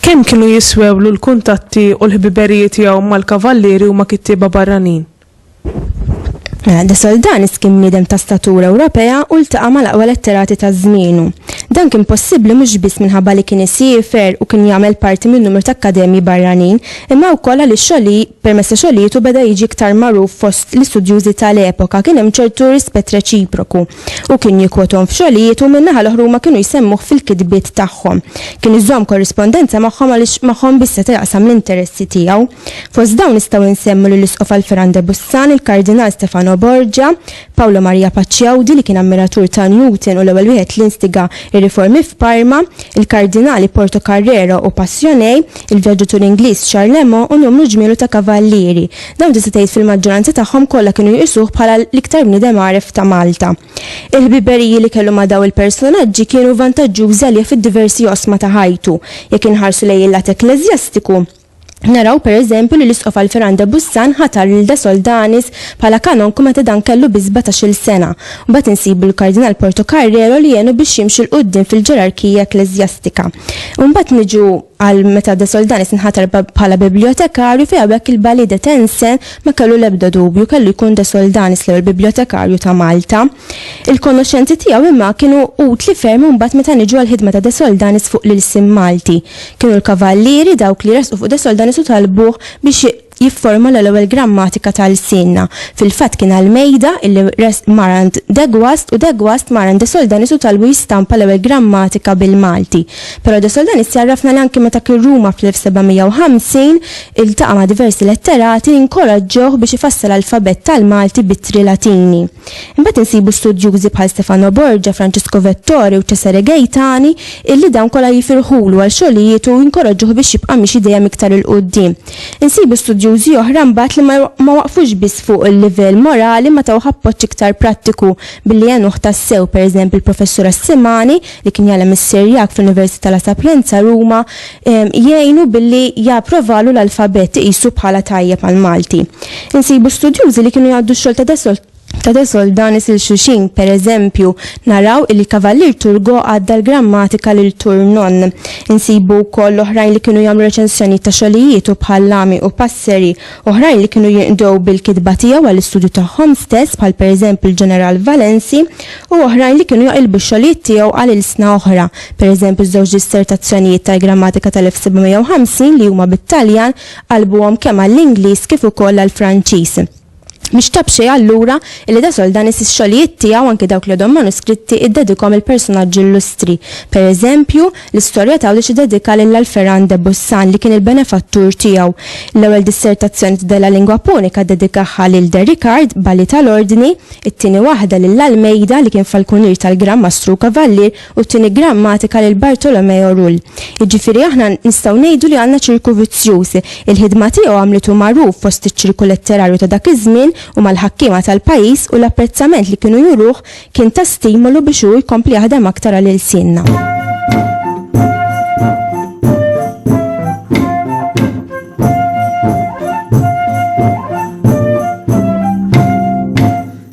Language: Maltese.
Kemm kienu jiswewlu l-kuntatti u l-ħbiberijiet tiegħu mal-kavallieri u ma' kittieba barranin? De Soldanis kien bniedem ta' statura Ewropea u ltaqa' mal-aqwa letterati ta' żmienu. Dan kien possibbli mhux biss minħabba li kien isiefer u kien jagħmel parti minn numru ta' akkademji barranin, imma wkoll għaliex xogħli, permezz ta' xogħlietu beda jiġi iktar magħruf fost l-istudjużi tal-epoka, kien hemm ċertu rispett reċiproku. Hu kien jikkwothom f'xogħlijiet u min-naħa l-oħra huma kienu jsemmuh fil-kitbiet tagħhom. Kien iżomm korrispondenza magħhom għaliex magħhom biss seta' jaqsam l-interessi tiegħu. Fost dawn nistgħu nsemmu lill-Isqof Alferan de Bussan, il-Kardinal Stefano Borgia, Paolo Maria Pacciaudi li kien ammiratur ta' Newton u l-ewwel wieħed li instiga r-riformi f'Parma, il-Kardinali Portocarrero u Passionei, il-vjaġġatur Ingliż Charlemont u numru ġmielu ta' kavallieri. Dawn tista' tgħid fil-maġġoranza tagħhom kollha kienu jqisuh bħala l-iktar bniedem għaref ta' Malta. Il-ħbiberiji li kellu ma' daw il-personaġġi kienu vantaġġjużi għalih fid-diversi oqsma ta' ħajtu. Jekk inħarsu lejn il-lat ekkleżjastiku, naraw per eżempju li l-Isqof Alfiran de Bussan ħatar lil de Soldanis bħala kanonku meta dan kellu biss sbatax-il sena. Mbagħad insibu l-Kardinal Portocarrero li għenu biex jimxi 'l quddiem fil-ġerarkija ekkleżjastika. U mbagħad niġu. Qal meta De Soldanis nħatar bħala bibljotekarju fi habeck il-Ballet de Tense ma kellu l-ebda dubju kellu jkun De Soldanis l-ewwel bibljotekarju ta' Malta. Il-konoxxenzi tiegħu imma kienu utli ferm imbagħad meta niġu għall-ħidma ta' De Soldanis fuq l-ilsien Malti. Kienu l-kavallieri dawk li resqu fuq De Soldanis u talbuh biex jifformula l-ewwel grammatika ta' lsienna. Fil-fatt kien Almeida illi mar għand De Guast u De Guast mar għand De Soldanis u talbu jistampa l-ewwel grammatika bil-Malti. Però De Soldanis jgħarrafna li anki meta kien Ruma fl-1750 iltaqa' ma' diversi letterati li nkoraġġewh biex ifassal alfabett tal-Malti b'ittri Latini. Imbagħad insibu studjużi bħal Stefano Borgia, Francisco Vettori u Cesare Gaetani illi dawn kollha jifirħulu għal xogħlijietu u jinkoraġġuh biex jibqa' miexi dejjem iktar 'il quddiem. Insibu studjużi oħra mbagħad li ma waqfux biss fuq il-livell morali ma tawh appoġġ iktar prattiku billi għenuh tassew, pereżemp il-Professur Assimani, li kien jgħallem is-Sirjak fl-Università La Sapienza, Ruma, jgħinu billi japprovalu l-alfabett iqisu bħala tajjeb għall-Malti. Insibu studjużi li kienu jgħaddu x-xogħol ta' Ta' de Soldanis il xuxin, per eżempju, naraw illi Kavallier Turgot għadda l-grammatika lil Tournon. Insibu wkoll oħrajn li kienu jagħmlu reċensjonijiet ta' xogħlijietu bħal Lamy u Passeri, oħrajn li kienu jinqdew bil-kitba tiegħu għall-istudju tagħhom stess bħal per eżempju l-Ġeneral Valensi u oħrajn li kienu jaqilbu x-xogħlijiet tiegħu għal ilsna oħra, per eżempju ż-żewġ dissertazzjonijiet tal-grammatika tal-1750 li huma bit-Taljan qalbuhom kemm għall-Ingliż kif ukoll għall-Franċiż. Mhix ta' b'xejn allura illi Da Soldanis ix-xogħlijiet tiegħu, anki dawk li għadhom manuskritti, iddedikhom lil personaġġi illustri. Per eżempju, l-istorja t'Għawdex iddedikha lil Alpheran de Bussan li kien il-benefattur tiegħu. L-ewwel dissertazzjoni ta' Della Lingua Punica ddedikahha lil De Ricard, Balli tal-Ordni, it-tieni waħda lil Almeida li kien falkunier tal-Gran Mastru u Kavallier, U t-tieni grammatika lil Bartolomeo Rull. Jiġifieri aħna nistgħu ngħidu li għandna ċirku vizzjuż. Il-ħidma tiegħu għamlitu magħruf fost iċ-ċirku letterarju ta' dak iż-żmien u mal-ħakkiema tal-pajjiż u l-apprezzament li kienu juruh kien ta' stimolu biex hu jkompli jaħdem aktar għal ilsienna.